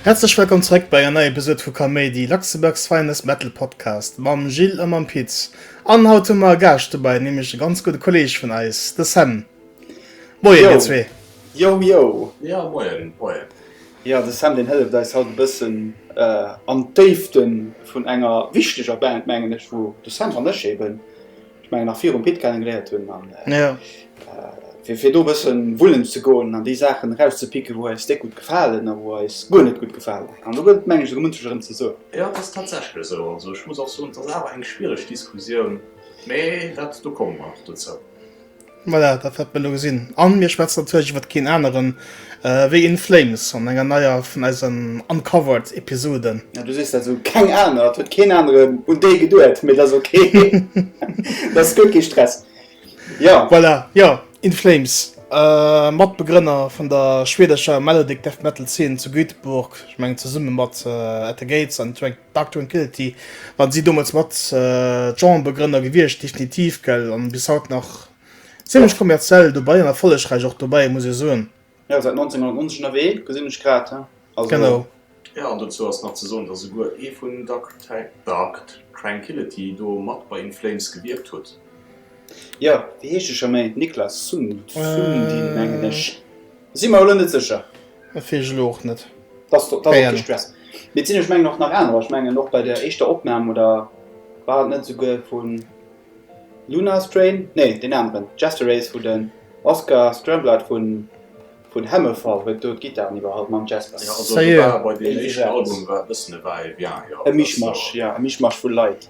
Häerzlech wellkomm zeréck bei en neie Episode vu Kaméidi, Luxembourg's finest metal podcast mam Gilles a mam Pit. An haut hu mer e Gaascht dobäi, nämlech e ganz gudde Kolleeg vun eis, de Sam. Moien, dir zwee. Yo, yo. Ja, moien, moien. Jo, de Sam deen hëlleft eis haut e bëssen an d'Déifte vun enger wichteger Band, mengen ech, wou de Sam an ech eeben, ech mengen nach virum Pit kennegeléiert hunn. An fir fir do e bëssen wullen ze goen an déi Saachen erauszepicken, wou eis déck gutt gefalen a wou eis guer net gutt gefalen. An do gëtt et, mengen ech, esou munches erëm ze soen. Jo, et ass tatsächlech esou. Also ech muss och soen, et ass awer eng schwiereg Diskussioun, mee dat do komme mer nach dozou. Voilà, dat wäerte mir elo gesinn. A mir schwätzen natierlech iwwer keen aneren ewéi In Flames an enger neier vun eisen Uncovered Episoden. Ja, du sees dat esou, keng aner, et huet keen aneren un déi geduet, mee dat ass ok, dat ass gutt, kee Stress. Jo. Voilà, jo, In Flames, Matbegrënner vun der schwedescher Melodic Death Metal Zeen zu Göteborg, ech mengen zesumme mat At the Gates an Drag D'Actoun Kilty, wann si domols mat d'Genrebegrënner gewiescht, definitiv, gell, an bis haut nach zimlech kommerziell dobei an erfollegreich och dobei, muss ech soen. Jo, seit 1990 ënnerwee, gesinn ech grad, he, also. Genau. Jo, an dozou ass nach ze soen, dass esouguer ee vun Dark Trankillity do mat bei In Flames gewierkt huet. Jo, wéi heescht e scho méi? Niklas Sundin, mengen ech. Sinn mer elo net sécher. Dat weess ech elo och net. Dat ass och kee Stress. Mee et sinn, ech mengen, och nach anerer. Ech mengen, och bei der éischter Opnam, oder war et net esouguer vu Lunar Strain? Nee, deen aneren, Jester Race, wou den Oscar Stramblight vun Hammerfall huet do d'Gittaren iwwerhall mam Jester. Jo, also do war bei deem éischten Album war e bëssen e Va-et-vient, jo. E Mischmasch, jo, e Mischmasch vu Leit.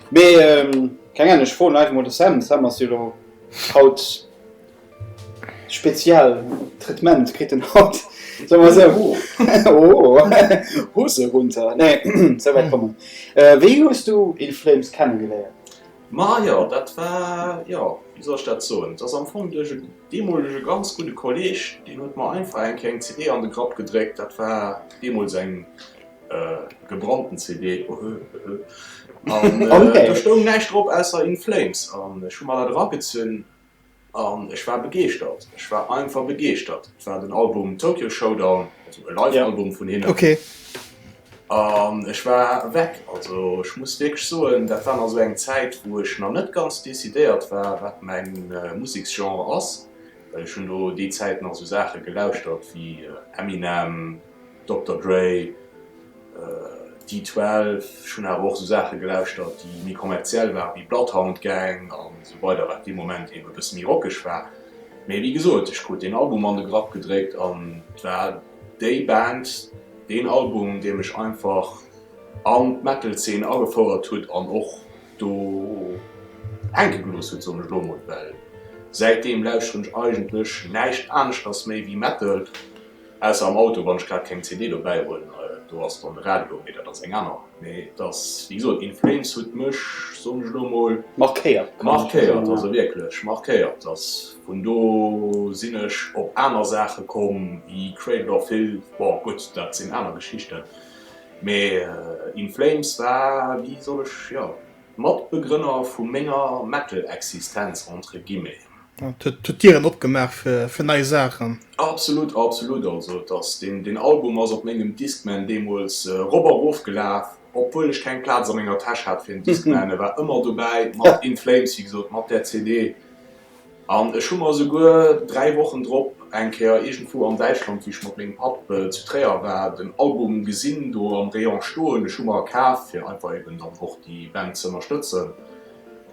Mee keng Ahnung, ech froen einfach mol de Sam. Sam ass jo elo haut. Spezial Traitement kritt en haut, soe mer esou. Oh, Hose runter, nee, esou wäit kommen. Wéi hues du In Flames kennegeléiert? Ma jo, dat war, jo, wéi soll ech dat soen, et ass am Fong duerch e deemolege ganz gudde Kolleeg, deen huet mer einfach eng Kéier eng CD an de Grapp gedréckt, dat war deemools eng gebrannten CD, ohö, höhö, an do stoung näischt drop ausser In Flames an ech hu mer dat eragezunn An ech war begeeschtert, ech war einfach begeeschtert. Et war den Album Tokyo Showdown, also e Live-Album vun hinnen. An ech war weg. Also ech muss wierklech soen, dat war nach sou eng Zäit, wou ech nach net ganz decidéiert war, wat mäin Museksgenre ass. Well ech hunn do déi Zäit nach sou Saache gelauschtert wéi Eminem. Dokter Dre, D-12, ech hunn awer och sou Saache gelauschtert déi méi kommerziell waren, wéi Bloodhound Gang an esou weider, wat dee Moment eben e bësse méi rockeg war. Mee wéi gesot, ech krut deen Album an de Grapp gedréckt an et war déi Band, deen Album, dee mech einfach an d'Metal-Zeen agefouert huet an och do hänke gelooss huet, soen ech elo emol, well säitdeem lauschteren ech eigentlech näischt aneschters méi wéi Metal. Ausser am Auto, wann ech grad keng CD dobäi hunn, do ass dann de Radio, mee dat ass eng aner. Mee et ass wéi gesot, In Flames huet mech, soen ech elo mol, markéiert, also wierklech markéiert. Dass vun do sinn ech op aner Saache komm wéi Cradle of Filth, bon gutt, dat sinn aner Geschichten, mee In Flames war, wéi soll ech, jo, Matbegrënner vu menger Metal-Existenz entre guillemets. Et huet d'Dieren opgemaach fir nei Saachen. Absolut, absolut. Also et ass, deen, deen Album ass op mengem Discman deemools erop a rof gelaf, obwuel ech keng Plaz a menger Täsch hat fir en Discman. E war ëmmer dobäi, mat In Flames, wéi gesot, mat där CD. An ech hu mer esouguer dräi Wochen drop eng Kéier iergendwou an Däitschland, wéi ech mat mengem Papp zu Tréier war, den Album gesinn do am Rayon stoen. Ech hu mer e kaf, fir einfach eben dann och déi Band ze ënnerstëtzen.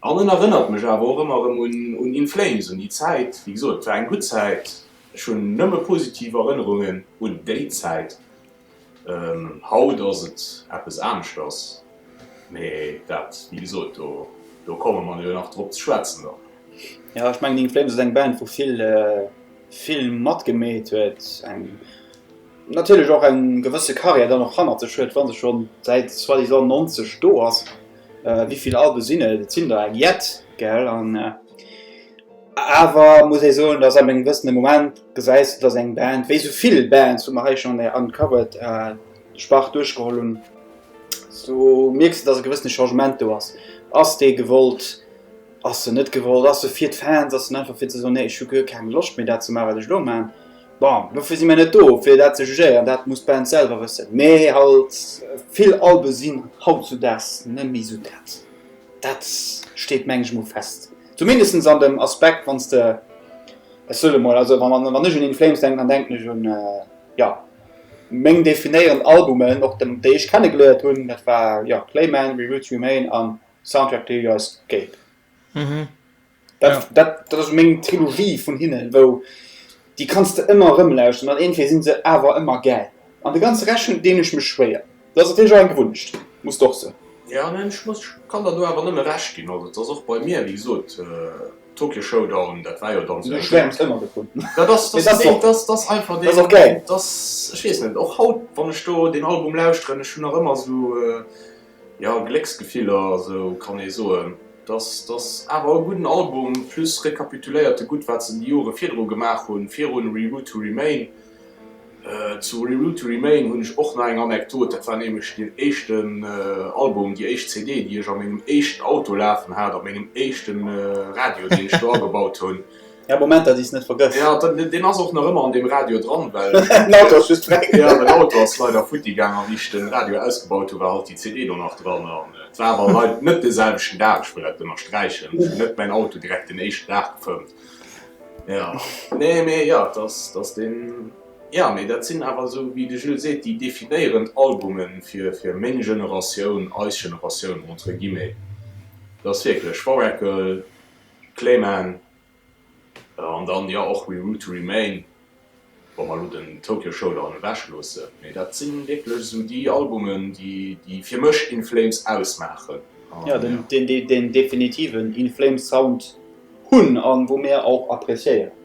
An en erënnert mech awer och ëmmer erëm un In Flames, un déi Zäit. Wéi gesot, et war eng gutt Zäit. Ech hunn nëmme positiv Erënnerungen un déi Zäit. Haut ass et eppes aneschters, mee dat, wéi gesot, do, do komme mer jo nach drop ze schwätzen dann. Jo, ech mengen, In Flames ass eng Band, wou vill, vill matgemeet huet, eng, natierlech och eng gewësse Karriär dann och hannert sech huet, wa se scho säit soi-disant 90 do ass. Wéi vill Alben sinn et? Et sinn der eng jett, gell? An awer muss ee soen, datt ab engem gewëssene Moment gesäis de, datt eng Band, wéi esou vill Bands, wou mer hei schonn an der Uncovered-Spart duerchgeholl hunn, do mierks de, datt e gewëssene Changement do ass. Ass déi gewollt? Ass se net gewollt? Ass se fir d'Fans? Ass se einfach fir ze soen, nee ech hu guer keng Loscht méi dat ze maachen, wat ech elo maachen? Bon, dofir si mir net do, fir dat ze jugéieren, dat muss d'Band selwer wëssen. Mee halt, vill Albe sinn hautzudaags net méi esou dat. Dat steet, mengen ech mol, fest. Zumindest an dem Aspekt, wann s de, ech soen emol, also wann ech un In Flames denken, dann denken ech un, jo, meng definéierend Albumen, och déi ech kennegeléiert hunn, dat war, jo, Clayman, We Will Remain an Soundtrack to Your Escape. Mhm. Dat, ja. dat, dat ass meng Trilogie vun hinnen, wou déi kannst du ëmmer rëmlauschen an entweder sinn se awer ëmmer gäil. An de ganze Rechen deen ech mech schwéier. Dat ass natierlech och eng Gewunnecht, muss de och sinn. Ja, neen, ech muss, ech kann der do awer nëmme Recht ginn. Also et ass och bei mir, wéi gesot, Tokyo Showdown, dat war jo dann esou eng. Du schwäerms ëmmer dovun. Dat ass, dat ass och, dat ass einfach deen. Dat ass och gäil. Dat ass, ech weess net, och haut wann ech do deen Album lauschteren, ech hunn nach ëmmer esou Jo, Glécksgefiller, esou kann ee soen. Et ass awer e gudden Album, plus rekapituléiert e gutt, wat se déi Jore virdru gemaach hunn, virun Re Route To Remain. Zu Re Route To Remain hunn ech och nach eng Anekdot, dat war nämlech deen éischten Album, déi éischt CD, déi ech a mengem éischten Auto lafen hat, a mengem éischte Radio, deen ech do agebaut hunn. Ja Moment dat is net vergëss. Ja deen ass och nach ëmmer an deem Radio dran well den Auto ass just weg. Ja den Auto ass leider futti gaang a wéi ech den Radio ausgebaut hu war halt déi CD do nach dran an et war awer leit net de selwechten Dag. Ech wëll dat ënnersträichen, ech hu net mäin Auto direkt den éischten Dag gefëmmt. Ja nee mee ja et ass et ass den ja mee dat sinn awer esou wéi de Jules seet déi definéierend Albume fir fir meng Generatioun, eis Generatioun entre guillemets. Et ass wierklech Warracle. Clayman, an dann jo och We Rule to Remain, wa mer elo den Tokyo Showdown ewech loosse, mee dat si wierklech esou déi Albumen, déi fir mech In Flames ausmaachen. Jo, deen definitiven In Flames Sound hunn a wou mir och appréciéieren.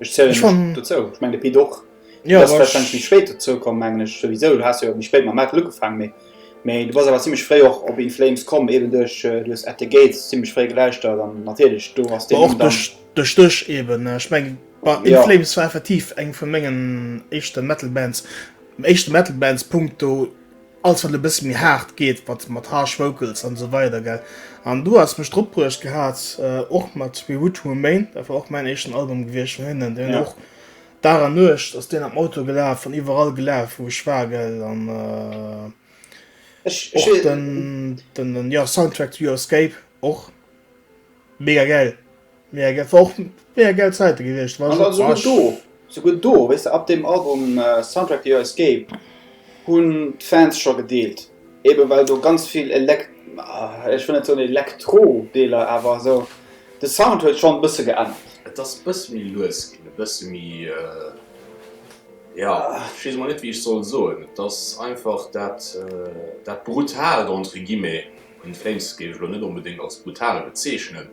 Ech zielen ech mech dozou. Ech mengen de Pit och. Du bass warscheinlech méi spéit dozou komm, mengen ech souwisou. Du has jo méi spéit mam Metal ugefaangen, mee mee du bass awer zimlech fréi och op In Flames komm, eben duerch, du hues At The Gates zimlech fréi gelauschtert an natierlech do ass deen Numm dann. Och duerch dech eben. Ech mengen In Flames war effektiv eng vu mengen éischte Metal Bands, éischte Metal Bands punkto Alles wat e bësse méi haart geet, mat mat harsh vocals an esou weider gell. An du has mech drop bruecht gehat och mat We Would Remain, dat war och mäin éischten Album gewiescht vun hinnen, deen hunn och Dag an Nuecht ass deen am Auto gelaf an iwwerall gelaf wou ech war gell an och den den jo Soundtrack to Your Escape och mega gäil. Mega gäll, war och mega gäll Zäite gewiescht, war schon, war ech. Souguer do, weess de, ab deem Album Soundtrack to Your Escape hunn d'Fans scho gedeelt, eben well do ganz vill Elekt, ech wëll net soen Elektro Deeler, awer esou de Sound huet schon e bësse geännert. Et ass e bësse méi lues ginn, e bësse méi, jo, ech weess emol net wéi ech soll soen, et ass einfach dat, dat Brutalt entre guillemets, In Flames géif ech elo net onbedéngt als brutal bezeechnen,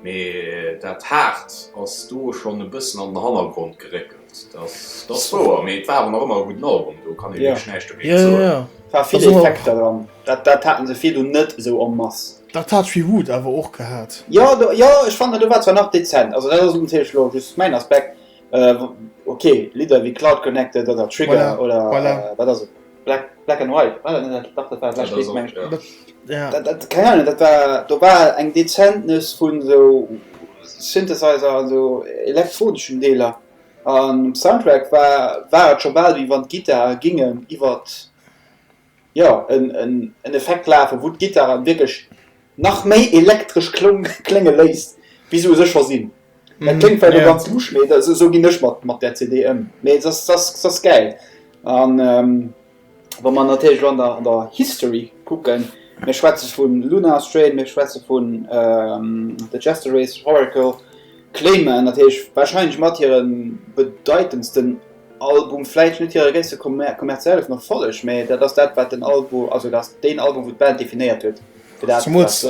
Mee dat Haart ass do schonn e bëssen an den Hannergrond geréckelt, dat ass wouer. Mee et war awer nach ëmmer e gudden Album, do kann ee wierklech näischt dogéint soen. Et war vill Effekter dran, dat haten se virdu net esou en masse. Dat hat Tree Wood awer och gehat. Jo, jo, ech fannen do war zwar nach dezent, also dat ass natierlech elo just mäin Aspekt. Ok, Lidder wéi Cloud Connected oder Trigger oder wat ass et? Black, Black and White, war dat net dat? Dach, dat war Black White, meng ech. Keng Ahnung, dat war, do war eng dezent Nuss vu sou Synthesizer an sou elektroneschen Deeler. An um Soundtrack war, war et scho bal, wéi wann d'Gittare gingen iwwert, jo, en Effekt lafen, wou d'Gittaren wierklech Nach méi elektresch klénge léisst wéi se u sech scho sinn. Dat kléngt vläicht och ganz lusch, mee esou ginn ech mat där CD ëm. Mee se ass gäil. A wa mer natierlech elo an der History kucken, mir schwätze vu Lunar Strain, mir schwätze vun The Jester Race, Oracle, Clayman natierlech, warscheinlech mat hire bedeitendsten Album, vläicht net hire gréisste kommerziellen Erfolleg, mee dat ass dat wat den Album, also dat ass deen Album wou d'Band definéiert huet. Zumools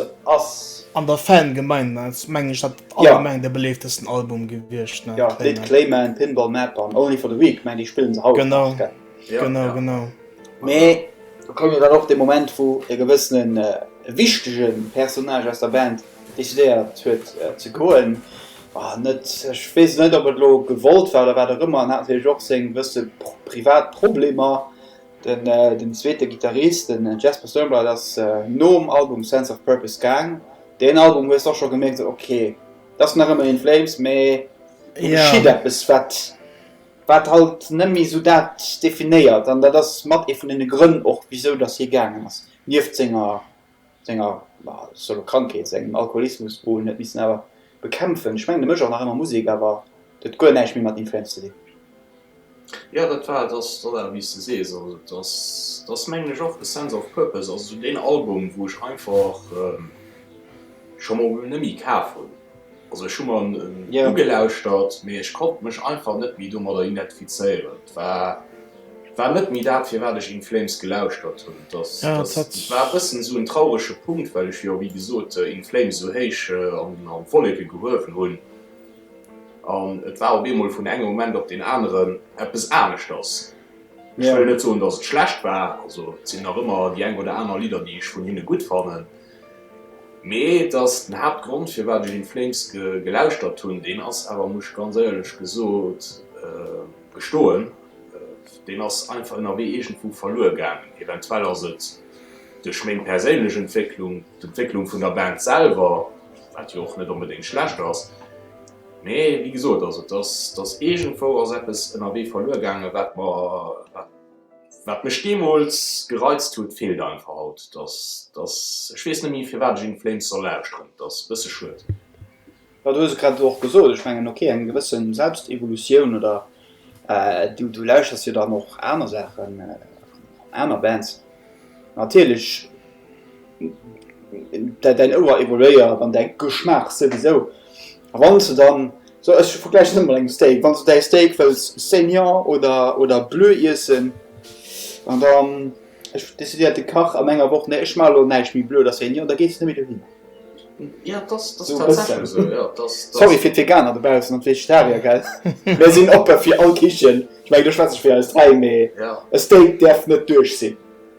an der Fangemeinde ass meng ech dat allgemeng de beleeftesten Album gewiescht. D'Lidd Clayman, Pinball Map an Only for the Weak, meng déi spillen se haut nach. Genau, genau. Mee do koum jo dann och de Moment wou e gewëssene wichtege Personnage aus der Band decidéiert huet ze goen. Net, ech weess net ob et elo gewollt war oder wat och ëmmer, en hat natierlech och seng gewësse privat Problemer. Den zweete Gittarist, den Jesper Stjernblad, ass nom Album Sense of Purpose gaang. Deen Album hues de och scho gemierkt, esou ok, et ass nach ëmmer In Flames, mee do geschitt eppes, wat wat halt net méi esou dat definéiert. An dat ass mat ee vun deene Grënn och, wisou datt hie gaangen ass, nieft senger. senger solo Krankheet, sengem Alkoholismus un huet missen awer bekämpfen. Ech mengen de Mësch ass nach ëmmer Musek, awer et huet guer näischt méi mat Influenz ze dinn. Jo dat war et, ass dat awer wéi s de sees, also et ass et ass mengen ech och de Sense of Purpose, also sou deen Album wou ech einfach scho mol nëmmi kaf hunn. Also ech hu mer en ugelauschtert, mee ech konnt mech einfach net méi domadder identifizéieren. Et war war net méi dat firwat ech In Flames gelauschtert hunn. Et ass et war e bëssen esou en traurege Punkt, well ech jo wéi gesot In Flames esou héich an an Wolleke gehuewen hunn an et war op eemol vun engem Moment op deen aneren eppes aneschters. Ech wëll net soen, datt et schlecht war, also et sinn nach ëmmer déi eng oder aner Lidder déi ech vun hinne gutt fannen. Mee et ass den Haaptgrond firwat ech In Flames gelauschtert hunn. Deen ass awer, muss ech ganz éierlech gesot gestoen, deen ass einfach ënnerwee iergendwou verluer gaangen. Eventuell ass et duerch meng perséinlech Entwécklung, d'Entwécklung vun der Band selwer, wat jo och net onbedéngt schlecht ass. Mee wéi gesot, also et ass, et ass, iergendwou ass eppes ënnerwee verluer gaangen, wat mer, wat Wat mech deemools gereizt huet, feelt einfach haut. Dass ech weess net méi, firwat ech In Flames soll lauschteren. Dat ass e bësse schued. Jo, du hues et grad elo och gesot. Ech mengen, ok, eng gewësse Selbstevolutioun oder du lauschters jo dann och aner Saachen, aner Bands. Natierlech Däin Ouer evoluéiert an däi Geschmaach souwisou. A wann s du dann, sou ech vergläichen ëmmer mat engem Steak, wann s du däi Steak wëlls saignant oder oder bleu iessen, an dann ech decidéiert de Kach an enger Woch, nee ech maache lo näischt méi bleu oder saignant, da gees de net méi dohin. Sou e bëssen. Sorry fir d'Veganer dobaussen an d'Vegetarier, gell, mir sinn oppe fir all Kichen. Ech mengen do schwätz ech fir eis dräi, mee e Steak däerf net duerch sinn.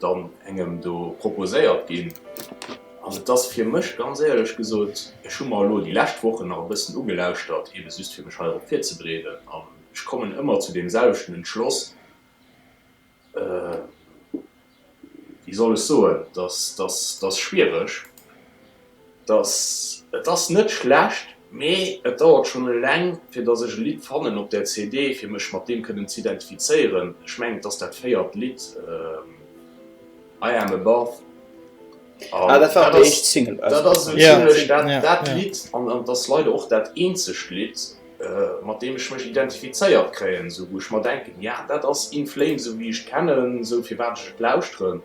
dann engem do proposéiert ginn. An et ass fir mech, ganz éierlech gesot, ech hu mer elo déi lescht Wochen nach e bëssen ugelauschtert, eben just fir mech heirop virzebreeden, an ech kommen ëmmer zu deem selwechten Entschloss, wéi soll ech soen, dass, dass, dass schwiereg. dass et ass net schlecht, mee et dauert schonn eleng fir dass ech e Lidd fannen op där CD fir mech mat deem kënnen z'identifizéieren, ech mengen et ass dat véiert Lidd I am above an dat ass esou zimmlech dat Lidd an et ass leider och dat eenzegt Lidd mat deem ech mech identifizéiert kréien, esou wou ech mer denken, jo dat ass In Flames esou wéi ech et kennen, esou firwat ech et lauschteren.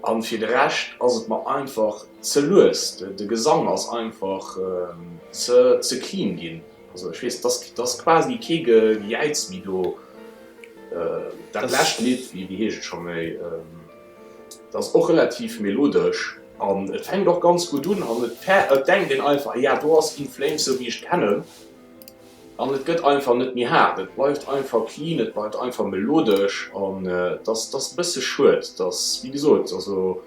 An fir de Rescht ass et mer einfach ze lues, de Gesang ass einfach ze clean ginn. Also ech weess, et ass quasi kee Gejäiz méi do. Dat lescht Lidd, wéi heescht et scho méi, dat ass och relativ melodesch an et fänkt och ganz gutt un an et denkt een einfach, jo do ass In Flames sou wéi ech d'kennen. An et gëtt einfach net méi haart. Et bleift einfach clean, et bleift einfach melodesch. An et ass et ass e bësse schued, dass, wéi gesot, also.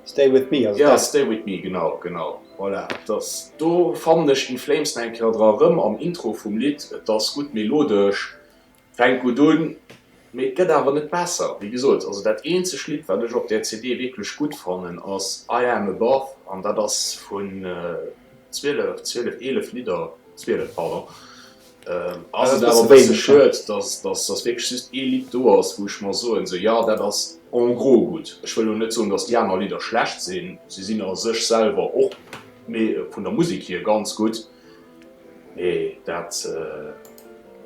Stay With Me, also. Jo, Stay With Me, genau, genau, voilà. Et ass, do fannen ech In Flames nach eng Kéier dra erëm am Intro vum Lidd. Et ass gutt melodesch, Fänkt gutt un, mee et gëtt awer net besser. Wéi gesot, also dat eenzeg Lidd, wat ech op där CD wierklech gutt fannen, ass I Am Above, an dat ass vun zwielef, zwielef, eelef Lidder, zwielef, pardon, ass et awer e bësse schued, dass wierklech just ee Lidd do ass, wou ech mer soen, sou, jo, dat ass en gros gutt. Ech wëll elo net soen, dass déi aner Lidder schlecht sinn, se sinn a sech selwer och, vun der Musek hier, ganz gutt. Nee dat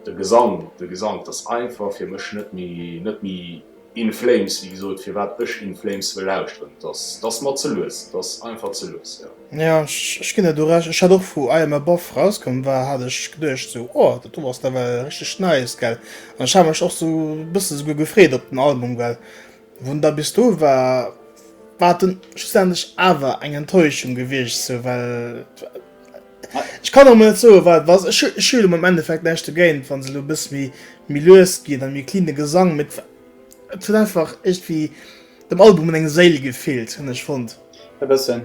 de Gesang de Gesang dass einfach fir mech net méi net méi In Flames wéi gesot firwat ech In Flames wëll lauschteren dass dass mer ze lues dass einfach ze lues jo. Jo ech ginn der do Recht, ech hat och wou I Am Above rauskomm war hat ech geduecht sou oh dat do ass nawell richteg nice gell an ech hat mech och sou bësse souguer gefreet op den Album well Won da bis do war, war dunn schlussendlech awer eng Enttäuschung gewiescht, sou well ech kann och mol net soen wat et war. Ech ech hu jo am Endeffekt näischt dogéint wann se elo e bësse méi méi lues ginn a méi cleane Gesang, mee et huet einfach iergendwéi dem Album un eng Séil gefeelt, hunn ech fonnt. E bëssen.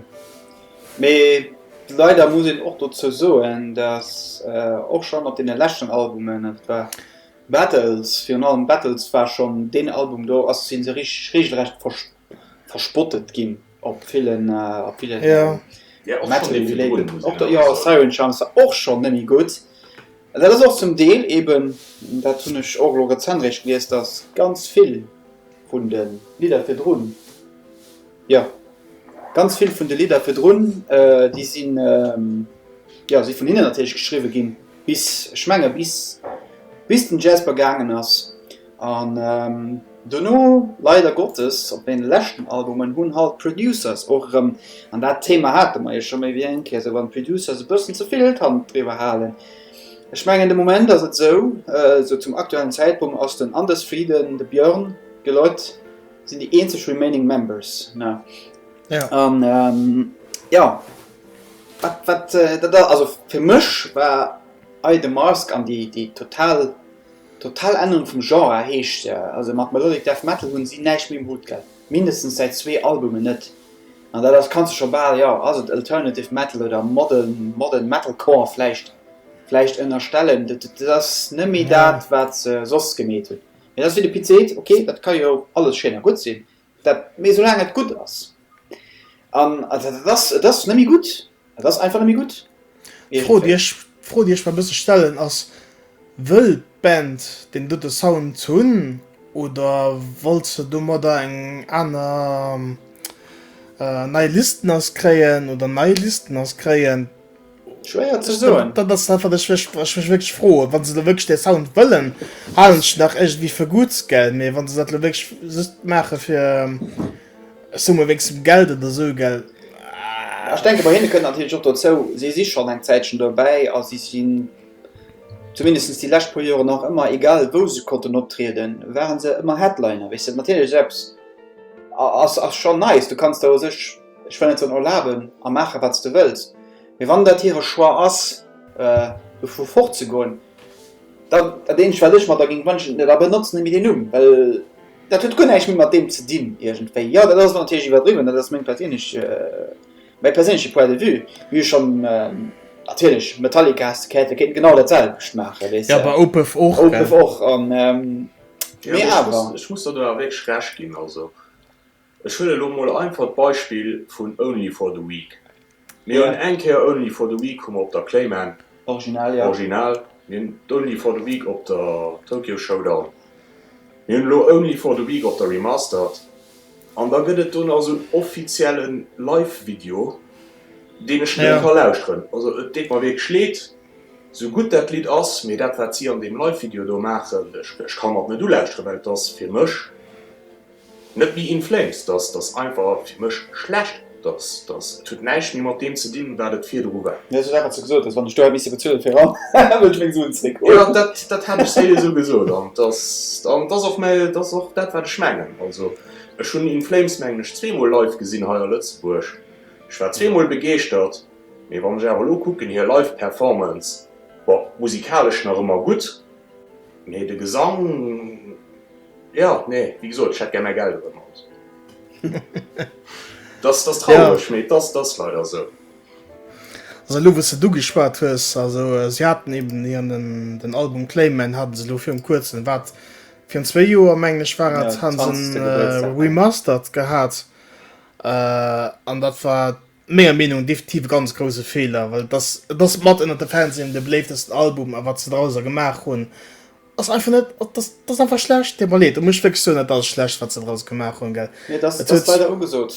Mee leider muss een och dozou soen, datt och schonn op deene leschten Albumen, et war. Battles, virun allem Battles war schonn deen Album, do sinn se reegelrecht verspottet ginn op villen Metal-related. Jo, Siren Charms war och schonn net méi gutt. Dat ass och zum Deel eeben, dat hunn ech och elo rezent eréischt gelies, datt ganz vill. Vun de Lidder virdrun? Jo, ganz vill vun de Lidder virdrun, déi si jo si vun hinnen natierlech geschriwwe ginn, bis, ech menge bis bis den Jasper gaangen ass. An dono, leider Gottes, op deene leschten Albumen hunn halt d'Producers och erëm, an dat Thema hate mer jo scho méi wéi eng Kéier, esou wann d'Producers e bëssen ze vill d'Hand driwwer halen, Ech mengen de Moment ass et esou, esou zum aktuellen Zäitpunkt ass den Anders Frieden, de Björn, d'Geloit sinn déi eenzeg remaining members, ne? Ja. An jo, wat, wat dat ass, also fir mech war Eye the Mask an déi, déi total, total Ännerung vum Genre heescht, also mat Melodic Death Metal hunn si näischt méi um Hutt gehad, mindestens säit zwee Albumen net. An dat ass, kanns de scho bal, jo, ass et Alternative Metal oder Modern Metalcore vläicht, vläicht ënnerstellen. Dat ass net méi dat, wat se soss gemeet hunn. Mee dat ass wéi de Pit seet, ok, dat ka jo alles schéin a gutt sinn, dat, mee soulaang et gutt ass. An et ass, et ass net méi gutt. Et ass einfach nëmme gutt. D'Fro, déi ech d'Fro, déi ech mer e bësse stellen, ass, Wëll d'Band deen dote Sound hunn oder wollt se domadder eng aner nei Listeners kréien oder nei Listeners kréien? Schwéier ze soen. Dat ass dat, wat ech mech wierklech froen. Wa se elo wierklech dee Sound wëllen, halen ech nach iergendwéi fir gutt, gell? Mee wa se dat elo wierklech just maache fir. Ech soe mol wéinst dem Geld an der Sue, gell? Ahh. Ech denke bei hinne kënnt natierlech och dozou, si si schonn eng Zäitchen dobäi a si sinn, zumindest déi lescht puer Joren nach ëmmer, egal wou se konnten optrieden, ware se ëmmer Headliner, weess de. Natierlech esou eppes ass ass schonn nice, du kanns der u sech, ech wëll net soen erlaben a maache wat s de wëlls, mee wann dat hire Choix ass, dovu fortzegoen, dann dat eenzegt wat ech mer da géing wënschen, da benotzen e méi deen Numm, well Dat huet guer näischt méi mat deem ze dinn, iergendwéi. Jo, dat ass elo natierlech iwwerdriwwen, dat ass meng perséinlech, mäi perséinleche Point de vue. Mir hu schonn, natierlech, Metallica has de gehäit, déi kéinten genau dat selwecht maachen, weess de. Awer Opeth och, gell? Opeth och, an, mee awer. Jo, ech muss der do awer wierklech Recht ginn, also. Ech huelen elo mol einfach d'Beispill vun Only for the Week. Mir hunn eng Kéier Only for the Week hu mer op der Clayman, Original, mir hunn d'Only for the Week op der Tokyo Showdown, mir hunn elo Only for the Week op der Remastered, an da gëtt et do nach esou en offizielle Live-Video, deen ech net ka lauschteren. Also et deet mer wierklech leed, esou gutt dat Lidd ass, mee dat wat si an deem Live-Video do maachen, ech ka mer et net ulauschteren, well et ass fir mech Net méi in flames, dass ass einfach fir mech schlecht, dass ass, et huet näischt méi mat deem ze dinn, wat et virdru war. Mir sou wat wat s de gesot hues, wann ech do hätt misse bezuelen fir eran, wëll ech meng Suen zréck huelen. Jo, dat dat hat ech séier esou gesot an et ass an et ass och mä et ass och dat wat ech mengen. Also ech hunn In Flames mengen ech zweemol live gesinn hei a Lëtzebuerg, ech war zweemol begeeschtert, mee wann ech awer elo kucken hir live Performance, bon musikalesch nach ëmmer gutt, mee de Gesang. Jo, nee, wéi gesot, ech hätt gär mäi Geld erëm. Dat ass traureg, mee dat ass leider esou. Also elo wous de du geschwat hues, also si haten eben hiren den Album Clayman hate se elo virun kuerzem, wat virun zwee Joer mengen ech war et, hate se en remastered gehat an dat war, Menger Meenung definitiv e ganz grouse Feeler, well et ass et ass mat ënnert de Fansinn de beléiftesten Album a wat se drauser gemaach hunn ass einfach net dat ass dat ass einfach schlecht déi mer leed do muss ech wierklech soen dat ass schlecht wat se drauser gemaach hunn gell Nee, dass et dass huet leider ugesot,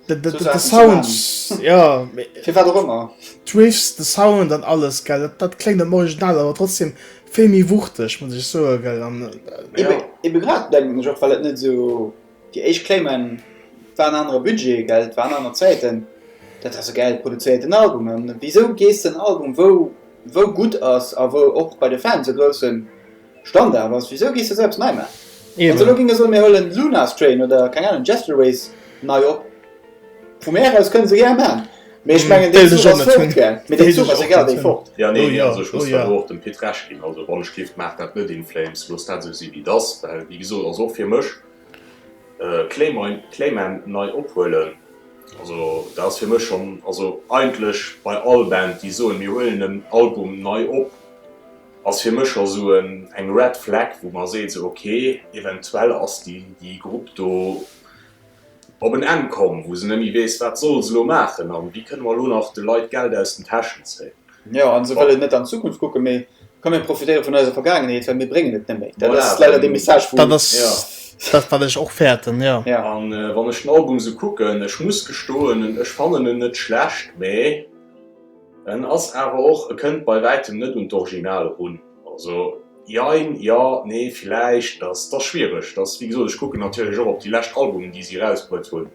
de de esou de de Saachen ze Sound maachen. jo mee Fir wat och ëmmer. d'Riffs de Sound an alles gell dat dat kléngt am Original awer trotzdem vill méi wuchteg muss ech soen gell an Ebe ebe grad denken ech och well et net esou Déi éischt Claimen waren anere Budget, gell, et waren aner Zäiten. Dat ass e gäil produzéierten Album, a wisou gees de en Album wou wou gutt ass a wou och bei de Fans e grousse Standard ass, wisou gees de sou eppes nei maachen? Also elo géing e soen mir huelen Luna's Train oder keng Ahnung Jazzterways nei op. Vu mir aus kënne se gär maan, mee ech mengen deen Zuch ass fuert gär, mee deen Zuch ass egal wéi fort. Jo nee also ech muss dann och dem Pit Recht ginn, also wann ech giff maach dat net in flames, looss dat esou si wéi et ass, well wéi gesot ass och fir mech Clayman nei ophuelen, also dat ass fir mech schonn, also eigentlech bei all Band déi soen mir huelen en Album nei op ass fir mech scho sou eng Red Flag wou mer seet sou ok eventuell ass déi Grupp do. op en Enn komm, wou se nëmme weess, wat soll se elo maachen an wéi kënne mer elo nach de Leit Geld aus den Täschen zéien. Jo, a se wëllen net an d'Zukunft kucken, mee komm mir profitéiere vun eiser Vergaangenheet, well mir bréngen et net méi. Dat ass leider dee Message, wou. Dat ass dat, wat ech och fäerten, jo. A wann ech den Album esou kucken, ech muss gestoen, ech fannen en net schlecht, mee. En ass awer och, e kënnt bei wäitem net un d'Original erun. Also jein, jo, nee, villäicht, dat ass schwiereg. Dat ass, wéi gesot, ech kucken natierlech och op déi lescht Albumen, déi si erausbruet hunn.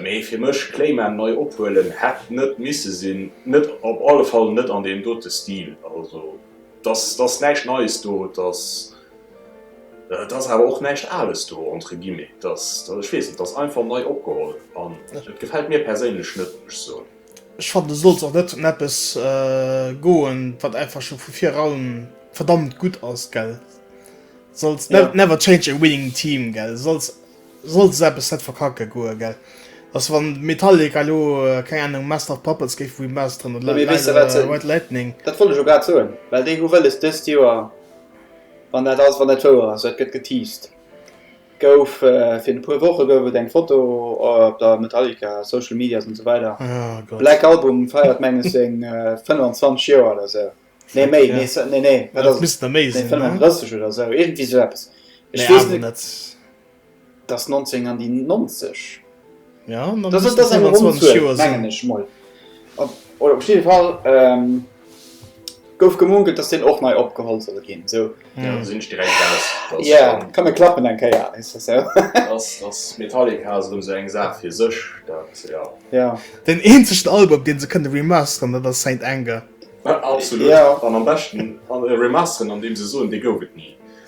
Mee fir mech, Clayman nei ophuelen hätt net misse sinn, net, op alle Fall net an deem dote Stil. Also dat ass näischt Neies do, et ass awer och näischt Ales do, entre guillemets. Dat ass, ech weess net, dat ass einfach nei opgeholl an et gefält mir perséinlech net, muss ech soen. Ech fannen et sollt och net ëm eppes goen wat einfach scho vu vir raun verdammt gutt ass gell, sollt yeah. never change a winning team gell, sollt sollt se eppes net verkacke goe gell. Ass wann Metallica lo äh, keng Ahnung Master of Puppets géif remasteren oder ja, weißt du, was, äh, White Lightning. Dat wollte jo grad soen, well déi hu wëlles dëst Joer, wann dat ass, wann dat wouer ass, dat gëtt geteased. Gouf virun e puer Woche gouf et eng Foto op der Metallica Social Medias an esou weider. Black Album feiert menges seng 25 Joer oder esou. Nee méi, nee nee nee wat ass et? 35 oder esou, iergendwéi esou eppes. Ech weess net, et ass 19 an déi 90. Ja, dann das ist das eine Runde, mengen ich mal. Oder auf jeden Fall ähm, gouf gemunkelt, dass den och nei opgeholt soll gin. So. Ja, sinn ech direkt aus. Ja, kann mir klappen eng Kéier. Ass Metallica esou sou eng Saach fir sech. Ja. Den eenzegen Album, dee se kënne remasteren, dat ass Saint Anger. Absolut. An am beschten remasteren, andeem se soen, dee gouf et ni.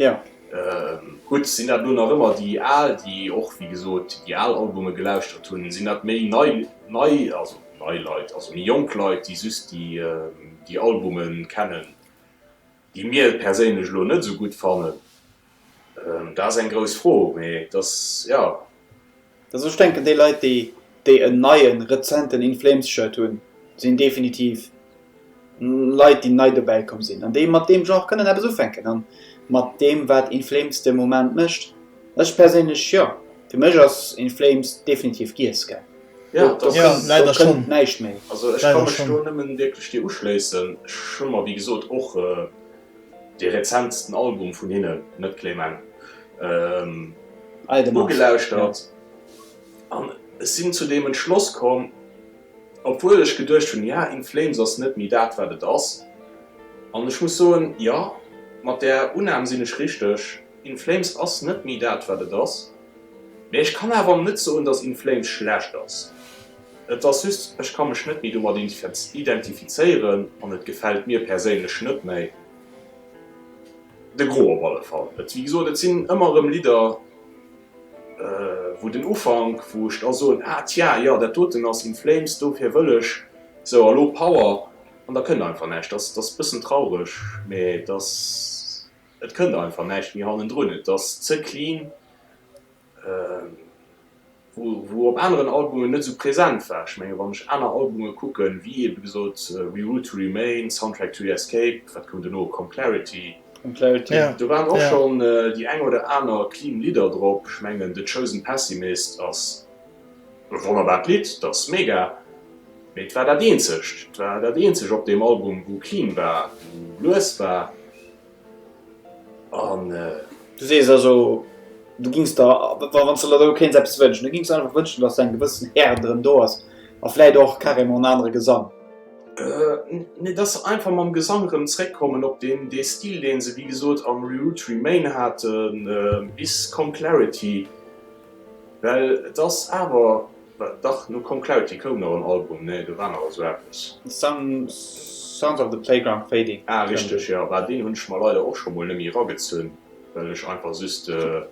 Jo. Gutt, sinn dat elo nach ëmmer déi al, déi och wéi gesot déi al Albume gelauschtert hunn? Sinn dat méi nei, nei, also nei Leit, also méi jonk Leit, déi just déi, déi Albume kennen, déi mir perséinlech elo net esou gutt fannen? Dat ass eng grouss Fro, mee et ass, jo. Also ech denken déi Leit déi déi en neien, rezenten In Flames Shirt hunn, sinn definitiv Leit déi nei dobäi komm sinn an déi mat deem Genre kënnen eppes ufänken an mat deem wat In Flames de Moment mécht. Ech perséinlech jo, fir mech ass In Flames definitiv Giesecke. Do kënnt näischt méi. Also ech ka mech do nëmmen wierklech dir uschléissen. Ech hu mer wéi gesot och. Dee rezentsten Album vun hinnen, Net Clément, ugelauschtert an ech sinn zu deem Entschloss komm, obwuel ech geduecht hunn, ja, In Flames ass net méi dat, wat et ass. An ech muss soen, jo, mat där Unnahm sinn ech richteg. In Flames ass net méi dat, wat et ass, mä ech kann awer net soen, datt In Flames schlecht ass. Et ass just, ech ka mech net méi domat identifizéieren an et gefält mir perséinlech net méi. De Gros op alle Fall. Et, wéi gesot, et sinn ëmmer erëm Lidder, wou den Ufank, wou ech da soen, ah tja, jo dat doten ass In Flames, dofir wëll ech esou a lo Power. An da kënnt einfach näischt. Dat ass e bëssen traureg, mä et ass, et kënnt einfach näischt méi hannendrun. Et ass ze clean. wou op aneren Albumen net esou present war. Ech mengen wann ech aner Albume kucken, wéi ebe gesot We Root to Remain, Soundtrack to Escape, wat koum dono, Com Clarity, do waren och schonn déi eng oder aner clean Lidder drop. Ech mengen The Chosen Pessimist ass e wonnerbart Lidd, dat ass mega, mee et war dat eenzegt, et war dat eenzegt op deem Album wou clean war, wou lues war. An äh, du sees also, du gings der, wann se der do kéints eppes wënschen, du gings der einfach wënschen, dass eng gewëssen Erde erëm do ass a vläit och carrément en anere Gesang. Äh, nee, dass se einfach mam Gesang erëm zréckkommen op deen, dee Stil, dee se, wéi gesot, am Reroute to Remain haten, bis Come Clarity, well et ass awer. Wat dach, no Con Clauti koum nach en Album, nee do war nach esou eppes. Some Sounds of the Playground Fading. Ah richteg jo, bah deen hunn ech mer leider och scho mol nemmi eragezunn well ech einfach just jo.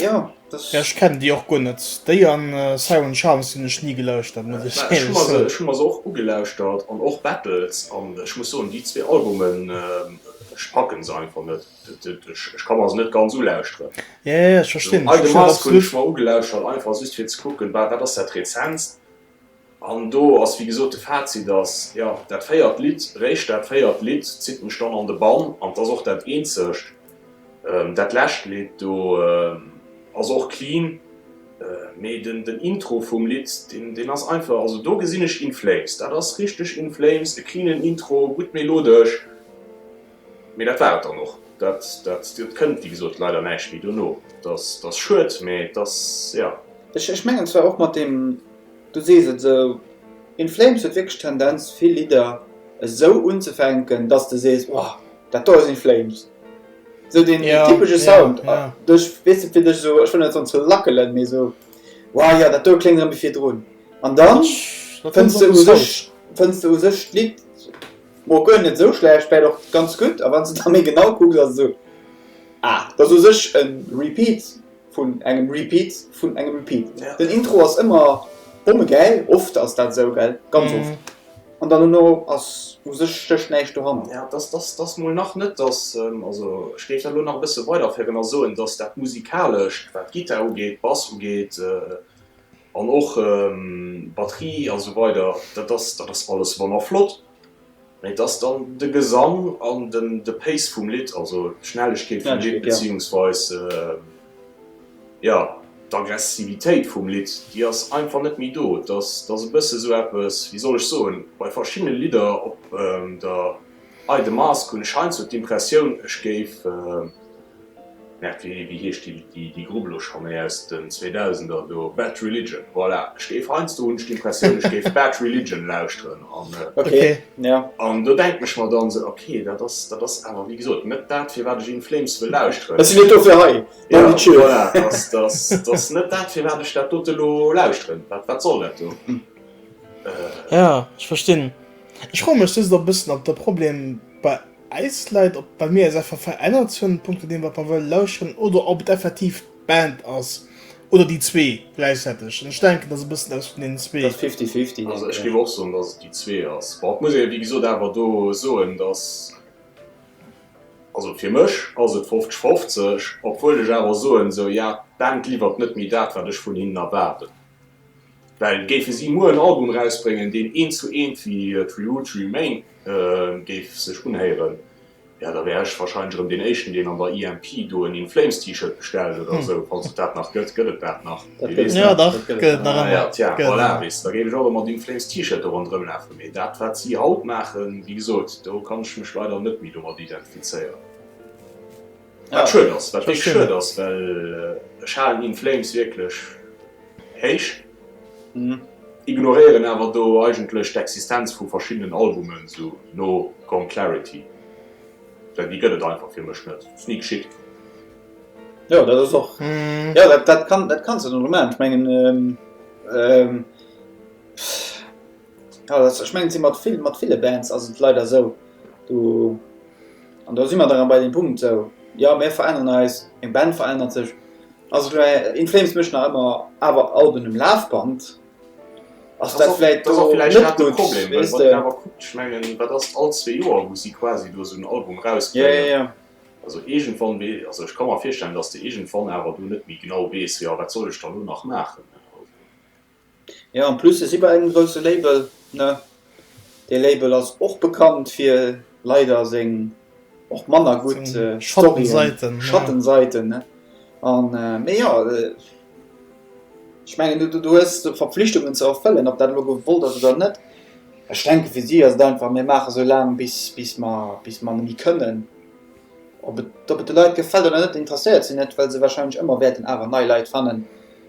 Ja ech kennen déi och guer net, déi an Sour and Charms hunn ech ni gelauschtert muss ech éierlech soen. Ech hunn mer se och ugelauschtert an och Battles an ech muss soen déi zwee Albumen ech packen se einfach net. Ech kann mer se net ganz ulauschteren. Ei de Mask hunn ech mer ugelauschert, einfach just fir ze kucken, wat ass dat rezenst. An do ass wéi gesot de Fazit ass, jo, dat véiert Lidd, réischt dat véiert Lidd zitt mech dann an de Bann. An 't ass och dat eenzegt. Dat lescht Lidd do ass och clean, mee den Intro vum Lidd, deen ass einfach, also do gesinn ech In Flames, dat ass richteg In Flames, e cleanen Intro, gutt melodesch. Mee dat war et dann och. Dat kënnt, wéi gesot, leider näischt méi dono. Et ass schued, mee et ass, jo. Ech mengen zwar och mat deem, du sees et esou, In Flames huet wierklech d'Tendenz, vill Lidder esou unzefänken, dass de sees, Ohh, dat do ass In Flames. Esou deen typesche Sound. Duerch, weess de, fir dech esou, ech wëll net soen ze lackelen, mee esou, Wow, jo, dat do kléngt erëm wéi virdrun. An da fënns de u sech, fënns de u sech d'Lidd. Bon, guer net esou schlecht, vläit och ganz gutt. A wann s de da méi genau kucks, ass et esou, ah, dat ass u sech e Repeat vun engem Repeat vun engem Repeat. Den Intro ass ëmmer bommegäil, oft ass dat esou, gell, ganz oft, an dann dono ass u sech stécht näischt doranner. Ja, dat ass mol nach net, dass, also ech géif dat elo nach e bësse weiderféieren a soen, dass dat Musikalecht, wat d'Gittar ugeet, Bass ugeet, An och Batterie a sou weider, dat ass, dat ass alles manner flott, mä et ass dann de Gesang an den, de Pace vum Lidd, also d'Schnellegkeet vum Lidd, beziehungsweis, jo, d'Aggressivitéit vum Lidd, déi ass einfach net méi do. Et ass, et ass e bësse sou eppes, wéi soll ech soen, bei verschiddene Lidder op der. Hei de Mask hunn ech heiansdo d'Impressioun ech géif, merde wéi heescht déi Grupp elo scho méi aus den 2000 er do, Bad Religion, voilà, ech géif heiansdo hunn ech d'Impressioun ech géif Bad Religion lauschteren an do denken ech mer dann esou ok dat ass dat ass awer wéi gesot net dat firwat ech In Flames wëll lauschteren, ech sinn net dofir hei, voilà dat ass net dat firwat ech dat dote elo lauschteren, wat soll dat do. Jo ech verstinn. Ech froe mech just och bëssen, ob de Problem bei äis läit, ob well mir äis einfach verännert hunn, punkto deem wat mer wëlle lauschteren, oder ob et effektiv d'Band ass, oder déi zwee gläichzäiteg. An ech denken, dass e bëssen eppes vun deenen zwee. Dass fifty fifty ass. Also ech géif och soen, dass et déi zwee ass. Bon, ech muss wéi gesot awer do soen, dass, also fir mech ass et fofzeg fofzeg, obwuel ech awer soen, sou, ja, d'Band liwwert net méi dat wat ech vun hinnen erwaarden. Well géife si muer en Album erausbréngen, deen eent zu eent wéi Tree Roots Remain géif sech unhéieren, jo, da wär ech warscheinlech erëm deen Éischten, deen an der EMP do en In Flames T-Shirt bestellt oder esou, falls et dat nach gëtt. Gëtt et dat nach? Wee weess dat? Ah ja, tja, voilà, weess de, da géif ech och e mat In Flames T-Shirt do ronderëm lafen. Mee dat, wat si haut maachen, wéi gesot, do kann ech mech leider net méi domat identifizéieren. Wat schued ass, wat wierklech schued ass, well ech halen In Flames wierklech héich, ignoréieren awer do eigentlech d'Existenz vu verschiddenen Albumen, esou no Gone Clarity, well déi gëtt et einfach fir mech net, ass ni geschitt. Jo, dat ass och, jo, dat kann, dat kanns de dann och maachen, ech mengen, Jo dat ech mengen si mat vill mat ville Bands ass et leider esou do an do si mer dann bei deem Punkt esou jo mir veränneren eis, eng Band verännert sech also elo In Flames mécht nach ëmmer awer Alben um Lafband ass dat vläit do net gutt weess de. Jo jo jo. Jo en plus se si bei engem grousse Label ne, dee Label ass och bekannt fir leider seng och manner gutt Storyen, Schattensaiten ne an mee jo ech mengen du hues Verpflichtungen ze erfëllen ob dat elo gewollt ass oder net. Ech denke fir si ass et einfach mir maache sou laang bis bis mer bis mer nemme kënnen. Ob et ob et de Leit gefält oder net interesséiert se net well se wahrscheinlech ëmmer wäerten awer nei Leit fannen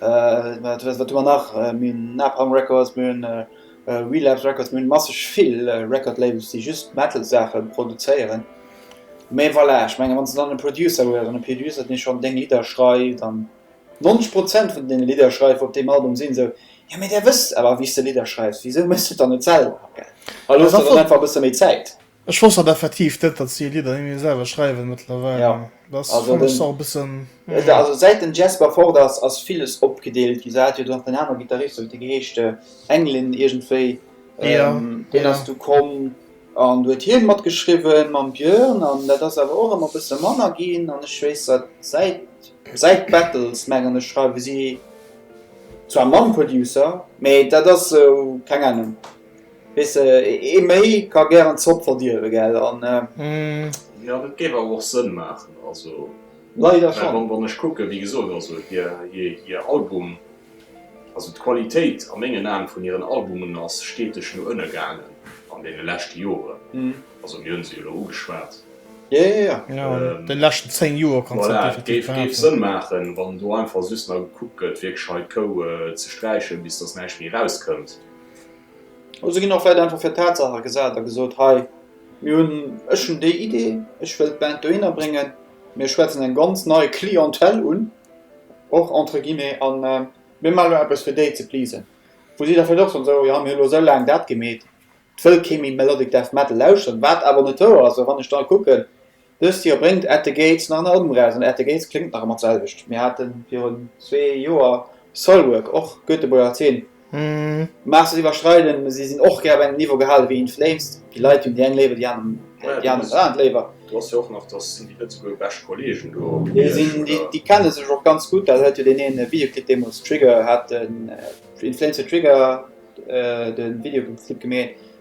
Wat hu mer nach? Mir hunn Napalm Records, mir hunn Relapse Records, mir hunn masseg vill Record Labels, déi just Metal-Saache produzéieren. Mee voilà, ech menge wann s de dann e Producer hues, an e Producer, dee schonn deng Lidder schreift, an 90 Prozent vun deene Lidder schreift op deem Album sinn, esou, jo mee där wësst awer wéi s de Lidder schreifs, wisou méchs du et dann net selwer? Elo hues de dann einfach e bësse méi Zäit. Ech wosst dat effektiv net, datt si Lidder nëmme selwer schreiwen mëttlerweil. Dat fannt ech och e bëssen. Also säit den Jesper fort ass, ass villes opgedeelt ginn. Se hat jo dann nach en anere Gittarist, huet dee geheescht Englin iergendwéi, deen ass du komm an du huet hien mat geschriwwe mam Björn an dat ass awer och ëmmer e bësse manner ginn an ech weess datt säit säit Battles mengen ech schreiwe si zwar mam Producer, mee dat ass esou keng Ahnung. Wees ee méi ka gären Zopp verdierwen, gell? An jo, dat géif awer och Sënn maachen, also leider schonn, wann ech kucken, wéi gesot, also hir Album, also d'Qualitéit a mengen Aen vun hiren Albumen ass steteg no ënne gaangen an deene leschte Joren, also mir hunn se jo elo ugeschwat, den leschten 10 Joer, voilà, et géif Sënn maachen, wann do einfach just nach gekuckt gëtt wierklech hei d'Kou ze sträichen, bis datt näischt méi erauskënnt. Also ginn och Leit einfach fir Tatsache gesat a gesot, hei mir hunn, ech hunn déi Idee, ech wëll d'Band dohinner bréngen, mir schwätzen eng ganz nei Clientèle un, och entre guillemets, a mir maache elo eppes fir déi ze pleasen. Wou si da vläicht och soen, esou jo mir hunn elo esou laang dat gemeet, et wëll kee méi Melodic Death Metal lauschteren, wat awer net wouer ass, well wann ech da kucken, Dëst Joer bréngt At the Gates nach en Album eraus an At the Gates kléngt nach ëmmer d'selwecht. Mir hate virun zwee Joer Soilwork, och Göteborger Zeen, mä se iwwerschreiden, si sinn och gär op engem Niveau gehale wéi In Flames. Déi Leit hunn déi eng léiwer, déi aner dat léiwer. Déi sinn, déi kenne sech och ganz gutt, dat huet jo deen ee Videoclip deemools Trigger hat den In Flames huet Trigger de Videoclip gemeet.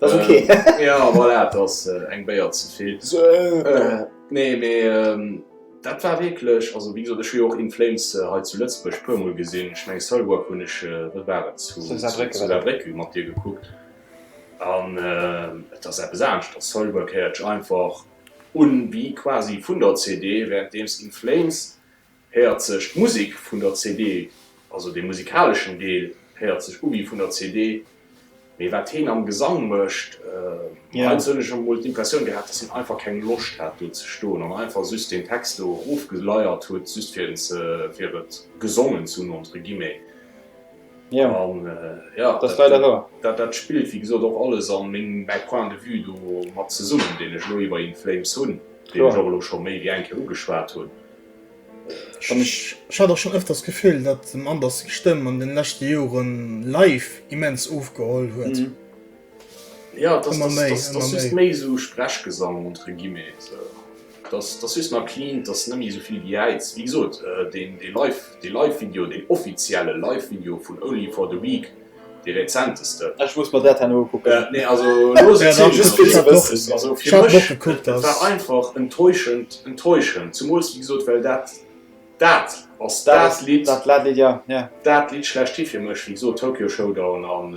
Das ist okay. Äh, ja, voilà, das ass äh, eng Béier ze vill. So, äh, äh, nee, mé ähm, dat war wéiklech also wéi sot ech jo och in Flames äh, hei zu Lëtzbech puermol gesinn. Ech meng Salwa hunn ech äh, waren zu Bréck mat Dir gekuckt. An äh, et ass eppes anescht, dat Salwa kéiertch einfach un wie quasi vun der CD, während deems in Flames Héiert sech d'Musek vun der CD, also de musikaleschen Deel héiert sech u wéi vun der CD, mee wat heen am Gesang mécht, heiansdo hunn ech emol d'Impressioun gehat, dass heen einfach keng Loscht hat do ze stoen an einfach just deen Text do erofgeleiert huet, just fir en ze, fir et gesongen ze hunn entre guillemets. An jo, dat, dat spillt wéi gesot och alles a meng, mäi Point de vue do mat zesummen, deen ech elo iwwer In Flames hunn, deen ech och elo scho méi wéi eng Kéier ugeschwat hunn. An ech hat och schonn ëfters d'Gefill, datt dem Anders seng Stëmm an de leschte Jore live immens ofgeholl huet. Jo, et ass just méi esou Sprechgesang entre guillemets. Et ass just nach clean, et ass net méi esou vill Gejäiz. Wéi gesot, dee Live-Video, deen offizielle Live-Video vun Only for the Week, Déi rezenteste. Ech muss mer dat herno ukucken. Nee, also looss et sinn, just fir ze wëssen. Also fir mech, et war einfach enttäuschend, enttäuschend, zumools wéi gesot, well dat, dat ass dat Lidd, dat Lidd schlechthin fir mech, wéi gesot, Tokyo Showdown, an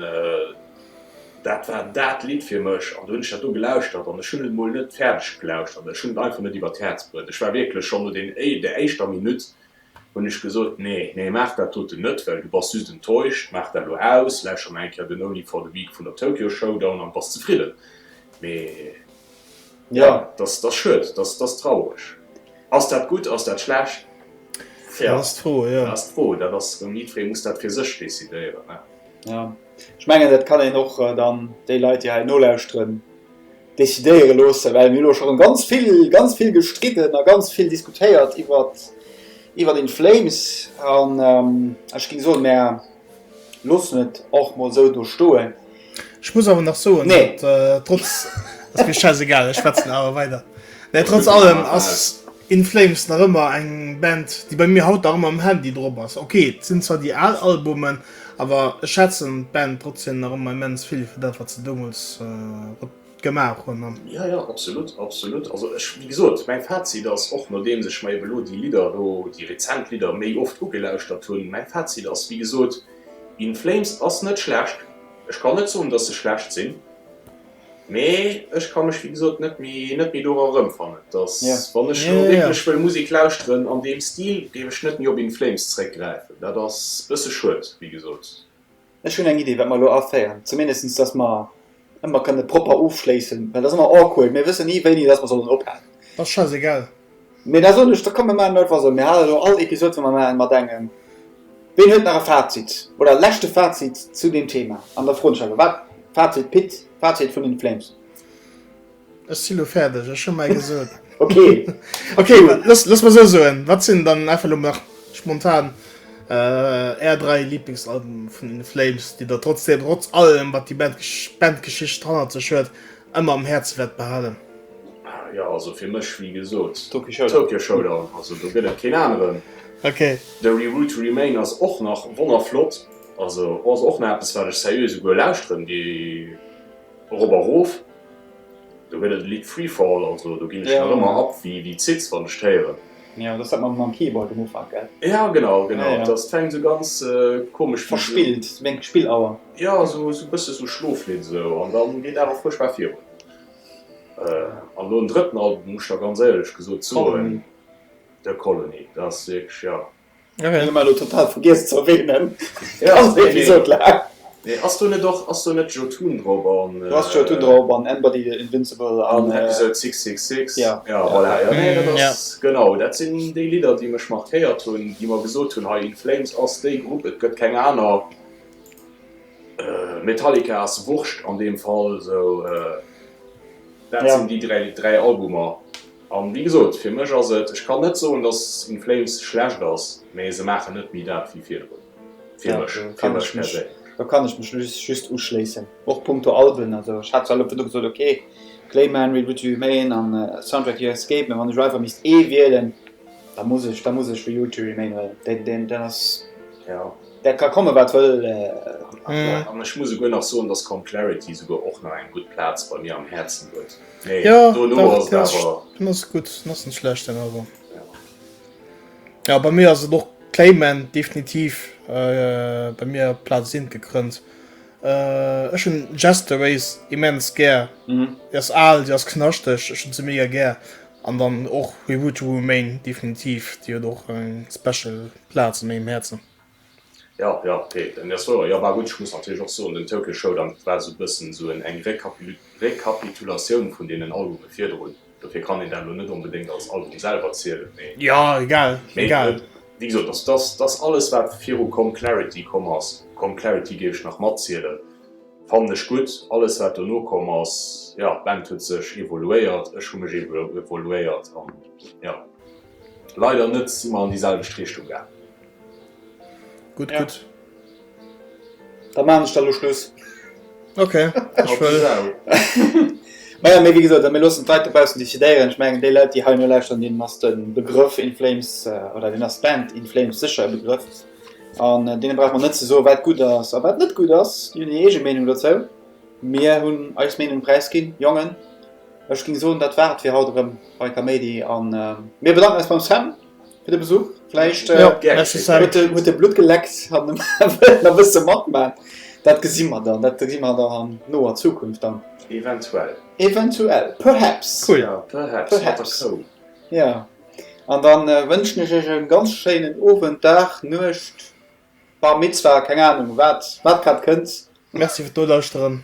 dat war dat Lidd fir mech, an du hunn ech dat do gelauschtert, an ech hunn et mol net fäerdeg gelauschtert, ech hunn et einfach net iwwert d'Häerz bruet, ech war wierklech schonn no den, der éischter Minutt, Hunn ech gesot, Nee, nee, maach dat doten net, well du bass just enttäuscht. Maach dat elo aus, lauschter nach eng Kéier den Only for the Weak vun der Tokyo Showdown an bass zefridden. Mee jo, dass ass schued, dass ass traureg. Ass dat gutt, ass dat schlecht? Tja, dat ass d'Fro, jo. Dat ass d'Fro, dat ass erëm, jiddweree muss dat fir sech decidéieren, ne? Jo, ech mengen, dat kann een och dann déi Leit, déi hei nolauschteren, decidéiere loossen, well mir hu elo scho ganz vill, ganz vill gestridden a ganz vill diskutéiert iwwer, iwwer In Flames. An ech géing soen, mär loossen et och mol esou do stoen. Ech muss awer nach soen, datt trotz. Ass mir schäiss egal, ech schwätzen awer weider. Trotz allem ass. In Flames nach ëmmer eng Band déi bei mir haut nach ëmmer um Handy drop ass. Ok et sinn zwar déi al Albumen, awer ech schätzen d'Band trotzdem nach ëmmer immens vill fir dat wat se deemools gemaach hunn an. Jo jo absolut absolut, also ech wéi gesot mäin Fazit ass, och nodeems ech mer eben elo déi Lidder elo, déi rezent Lidder méi oft ugelauschtert hunn, mäin Fazit ass wéi gesot, In Flames ass net schlecht, ech kann net soen dass se schlecht sinn. Mee ech ka mech wéi gesot net méi dora erëmfannen, dass wann ech elo wierklech wëll Musek lauschteren an deem Stil, géif ech net méi op In Flames zréckgräifen. Dat ass e bësse schued, wéi gesot. Ech hunn eng Iddi wat mer elo aféieren, zumindest dass mer ëmmer kënne propper ofschléissen, well et ass ëmmer awkward, mir wëssen ni wéini dass mer sollen ophalen. Ass scheiss egal. Mee da soen ech, da komm mir maachen einfach esou, mir hale lo all Episod wou mer maachen mat engem, ween huet nach e Fazit oder e leschte Fazit zu deem Thema an da froen ech einfach, wat Fazit Pit, Fazit vun In Flames? Ech si lo fäerdeg, ech hu mäi gesot. Ok, ok, looss mer esou soen, wat sinn dann einfach lo nach spontan är dräi Liblingsalbume vun In Flames, déi der trotzdem, trotz allem wat déi Band, Bandgeschicht hannert sech huet, Emmer am Herzen wert behalen. Jo also fir mech wéi gesoot Tokyo Showdown, also do get et keen aaneren. The Rule to Remain ass och nach wonnerflott, also ass och nach eppes waat ech serieux esouguer lauschteren gi erop a roof. Do get et e Lidd Freefall, also do gin ech nach emmer ab wéi Zitz wann ech d'héieren. Jo dat ass dat mam Keyboard um Ufank gell? Jo genau genau et ass fänkt esou ganz komesch verspillt wéi eng Spillauer. Jo esou esou bësse esou schloflidd esou an dann geet awer fuerchtbar virun an nom drëtten Album muss ech der ganz éierlech gesot soen The Colony dat ass wierklech jo Okay. Hun elo mei total vergiess ze erwähnen. Ja, nee. Nee, ass do net och, ass do net Jotun drop an. Do ass Jotun drop an Anybody the Invincible an Episode 666. Ja, ja, voilà, ja, nee, dat ass genau, dat sinn déi Lidder déi mech markéiert hunn, déi mer gesot hunn hei, In Flames ass déi Grupp, et gëtt keng aner. Metallica ass wurscht an deem Fall, sou dat sinn déi dräi, dräi Albumer. An wéi gesot, fir mech ass et, ech kann net soen, dass In Flames schlecht ass, mä se maachen net méi dat wéi virdrun, fir mech, fir mech perséinlech. Do kann ech mech just uschléissen, och punkto Alben. Also ech hat zwar elo virdu gesot, ok, Clayman, Read What You Remain an Soundtrack To Your Escape, mä wann ech elo einfach misst ee wielen, da muss ech, da muss ech Read What You Remain huelen. Deen, deen, deen ass, dat ka komme wat wëll. An ech muss souguer nach soen, dass Calm Clarity souguer och nach eng gutt Plaz bei mir am Häerzen huet. Nee, ja, do ass awer. Den ass gutt, den ass net schlecht den awer. Ja bei mir ass et och Clayman definitiv äh, bei mir Platz sinn gekrënnt. Äh, ech hun Jester Race immens gär. Mhm. Di ass al, Di ass knaschteg, ech hun ze mega gär. An dann och We Would Remain definitiv, Dir huet och eng special Platz an mengem Häerzen. Jo, jo, ok, en ass wouer. Jo, bah gutt, ech muss natierlech och soen, den Tokyo Showdown war esou e bëssen esou en eng Rekapil Rekapitulatioun vun deenen Albume virdrun. Dofir kann een dat elo net onbedéngt als Album selwer zielen, mee. Jo, egal, egal. Mee wéi gesot, dass dass dass alles wat viru Come Clarity komm ass, Come Clarity géif ech nach matzielen, fannen ech gutt. Alles wat dono komm ass, jo, d'Band huet sech evoluéiert, ech hu mech evoluéiert an jo, leider net si mer an déi selwecht Richtung gaangen. Gutt, gutt. Da maachen ech da lo Schluss. Ok, ech wëll. Maja, mee wéi gesot, mir loossen d'Leit dobaussen decidéieren. Ech mengen, déi Leit, déi heino lauschteren, deenen ass de Begrëff In Flames oder deenen ass d'Band In Flames sécher e Begrëff. An deene brauche mer net ze soen, wat gutt ass a wat net gutt ass. Déi hunn hir eege Meenung dozou. Mir hunn eis Meenung präisginn. Jongen, ech géing soen, dat war et fir haut erëm bei Kaméidi. A mir bedanken eis beim Sam. fir de Besuch. Vläicht äh, ja, huet de Blut geleckt an da wëst ze mat mat. Dat gesi mat dann, dat gi mat der an noer Zukunft dann. Eventuell. Eventuell. Perhaps. Cool. Ja, perhaps. perhaps. So. Ja. An dann äh, wënschen ech ech en ganz schéinen Owend, Dag, Nuecht, Bar Mitzwa, keng Ahnung, wat, wat grad kënnt. Merci fir d'Nolauscheren.